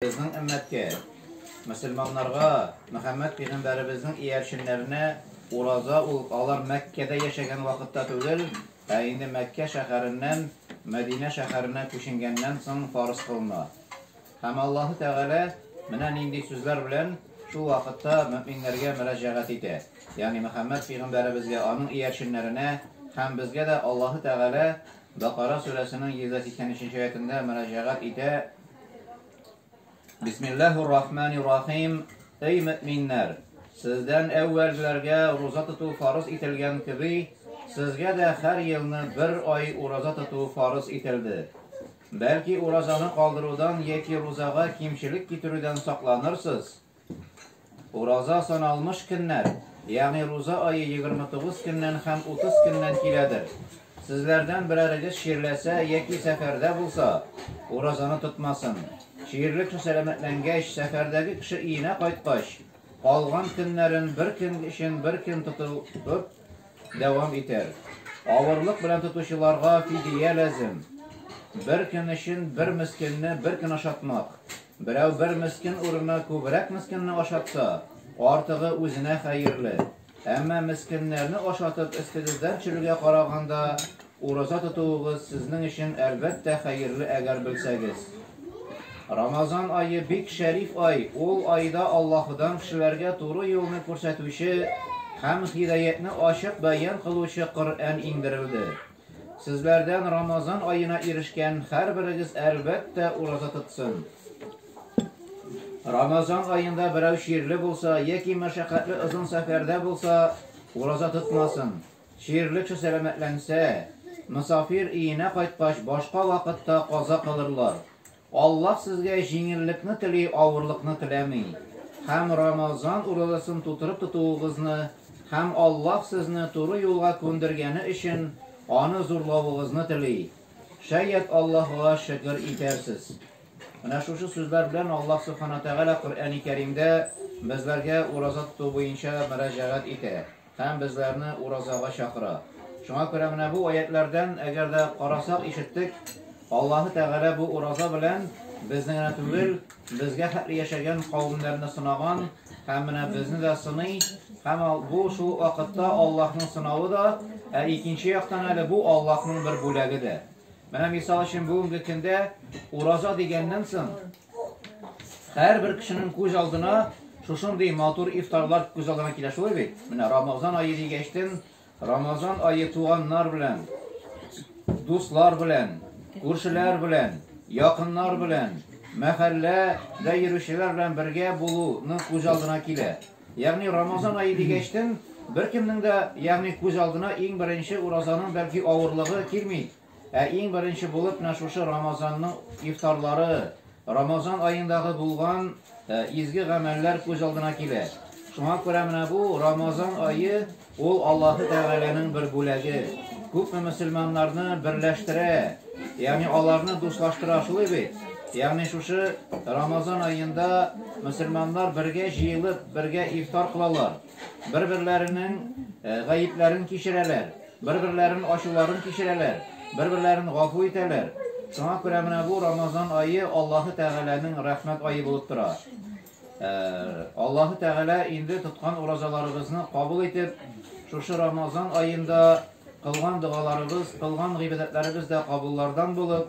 Безнең өммәткә, мөселманнарга, Мөхәммәд пигамбәребезнең иярченнәренә ураза ул алар Мәккәдә яшәгән вакытта түгел, ә инде Мәккә шәһәреннән Мәдинә шәһәренә күченгәннән соң фарыз кылына. Һәм Аллаһы Тәгалә менә нинди сүзләр белән шул вакытта мөэминнәргә мөрәҗәгать итә, ягъни Мөхәммәд пигамбәребезгә, аның иярченнәренә һәм безгә дә Аллаһы Тәгалә Бакара сүрәсенең 180 нче аятендә мөрәҗәгать итә. Бисмиллаһир рахманир рахим. Эй мөминнәр, сездән әүвәлгеләргә ураза тоту фарыз ителгән кеби, сезгә дә һәр елны бер ай ураза тоту фарыз ителде. Бәлки уразаны калдырудан яки рузага кимчелек китерүдән сакланырсыз? Ураза саналмыш көннәр, ягъни руза ае егерме тугыз көннән һәм утыз көннән киләдер. Сезләрдән берәрегез чирләсә яки сәфәрдә булса, уразаны тотмасын. Чирле кеше сәламәтләнгәч, сәфәрдәге кеше өенә кайткач, калган көннәрен бер көн өчен бер көн тотып, дәвам итәр. Авырлык белән тотучыларга фидия ләзем. Бер көн өчен бер мескенне бер көн ашатмак. Берәү бер мескен урынына күбрәк мескенне ашатса, артыгы үзенә хәерле. Әмма мескеннәрне ашатып эстегездән чөлгә караганда Ураза тотуыгыз сезнең өчен әлбәттә хәерле әгәр белсәгез. Рамазан ае бик шәриф ай, ул айда Аллаһыдан кешеләргә туры юлны күрсәтүче һәм һидаятьне ачык бәян кылучы Коръән иңдерелде. Сезләрдән Рамазан аена ирешкән һәрберегез әлбәттә ураза тотсын. Рамазан аенда берәү чирле булса яки мәшәкатьле озын сәфәрдә булса, ураза тотмасын. Чирлечо сәламәтләнсә, мосафир иенә кайткач башка вакытта каза кылырлар. Аллаһ сезгә җиңеллекне тели, авырлыкны теләми. Һәм Рамазан уразасын тутырып тотуыгызны һәм Аллаһ сезне туры юлга күндергәне өчен аны зурлавыгызны тели. Шәят Аллаһыга шөкер итәрсез. Менә шушы сүзләр белән Аллаһ Субхана Тәгалә Коръәни Кәримдә безләргә ураза тоту буенча мөрәҗәгать итә. Һәм безләрне уразага чакыра. Шуңа күрә менә бу аятьләрдән, әгәр дә карасак, ишеттек, Аллаһы Тәгалә бу ураза белән безне генә түгел, безгә хәтле яшәгән кавемнәрне сынаган һәм менә безне дә сыный. Һәм бу шул вакытта Аллаһның сынавы да, ә икенче яктан әле бу Аллаһның бер бүләге дә. Менә мисал өчен бүгенге көндә ураза дигәннән соң, Һәрбер кешенең күз алдына шушындый матур ифтарлар күз алдына килә шулай бит. Менә Рамазан ае дигәчтен, Рамазан ае туганнар белән, дуслар белән, күршеләр белән, якыннар белән, мәхәлләдә йөрүчеләр белән бергә булуны күз алдына килә. Ягъни Рамазан ае дигәчтен, беркемнең дә, ягъни күз алдына иң беренче уразаның бәлки авырлыгы килми. Ә иң беренче булып менә шушы Рамазанның ифтарлары, Рамазан аендагы булган изге гамәлләр күз алдына килә. Шуңа күрә менә бу Рамазан ае ул Аллаһы Тәгаләнең бер бүләге. Күпме мөселманнарны берләштерә, ягъни аларны дуслаштыра шулай бит. Ягъни шушы Рамазан аенда мөселманнар бергә җыелып, бергә ифтар кылалар, бер-берләренең гаепләрен кичерәләр. Бер-берләрен ачуларын кичерәләр, бер-берләрен гафу итәләр. Шуңа күрә менә бу Рамазан ае Аллаһы Тәгаләнең рәхмәт ае булып тора. Аллаһы Тәгалә инде тоткан уразаларыбызны кабул итеп, шушы Рамазан аенда кылган догаларыбыз, кылган гыйбадәтләребез дә кабуллардан булып,